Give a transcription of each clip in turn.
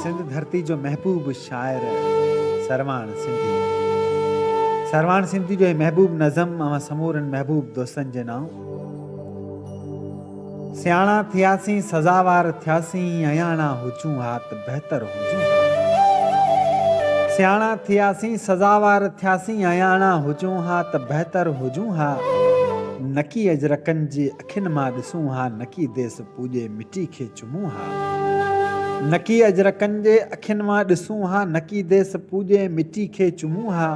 سنڌ ڌرتي جو محبوب شاعر سرواڻ سنڌي سرواڻ سنڌي جو هي محبوب نظم اوهان سمورن محبوب دوستن جي نانء سياڻا ٿياسين سزاوار ٿياسين اياڻا هجون ها ته بهتر هجون سياڻا ٿياسين سزاوار ٿياسين اياڻا هجون ها ته بهتر هجون ها نڪي اجرڪن جي اکين مان ڏسون ها نڪي ديس پوڄي مٽي کي چمون ها. نڪي اجرڪن جي اکين مان ڏسون ها نڪي ديس پوڄي مٽي کي چمون ها.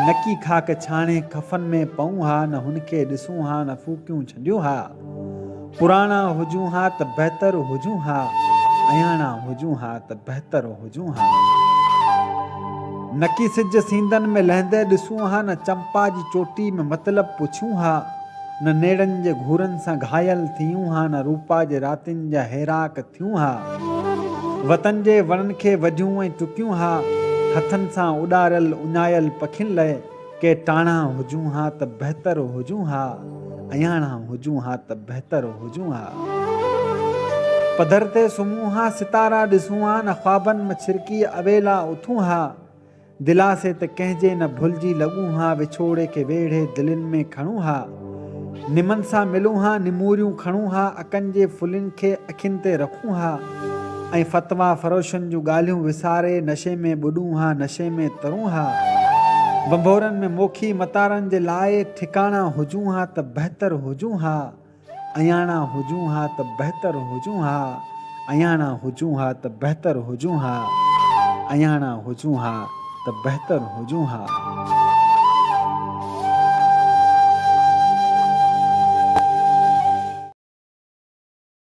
نڪي خاڪ ڇاڻي ڪفن ۾ پئون ها نه هن کي ڏسون ها نه ڦوڪيون ڇنڊيون ها. پراڻا هجون ها ته بهتر هجون ها اياڻا هجون ها ته بهتر هجون ها. نڪي سج سيندن ۾ لهندي ڏسون ها نه چمپا جي چوٽي ۾ مطلب پڇون ها. نه نيڙن جي گهورن سان گهايل ٿيون ها نه روپا جي راتين جا هيراڪ ٿيون ها وطن جي وڻن کي وڍيون ۽ ٽڪيون ها هٿن سان اڏاريل اڃايل پکين لئه ڪي ٽاڻا هجون ها ته بهتر هجون ها اياڻا هجون ها ته بهتر هجون ها پڌر تي سمهون ها ستارا ڏسون ها نه خوابن م ڇرڪي اويلا اٿون ها. دلاسي ته ڪنهن جي نه ڀلجي لڳون ها وڇوڙي کي ويڙهي دلين ۾ کڻون ها نمن سان ملون ها نموريون کڻون ها اڪن جي ڦلين کي اکين تي رکون ها ۽ فتوا فروشن جون ڳالهيون وساري نشي ۾ ٻڏون ها نشي ۾ ترون ها ڀنڀورن ۾ موکي متارن جي لاء ٺڪاڻا هجون ها ته بهتر هجون ها. اياڻا هجون ها ته بهتر هجون ها اياڻا هجون ها ته بهتر هجون ها اياڻا هجون ها ته بهتر هجون ها.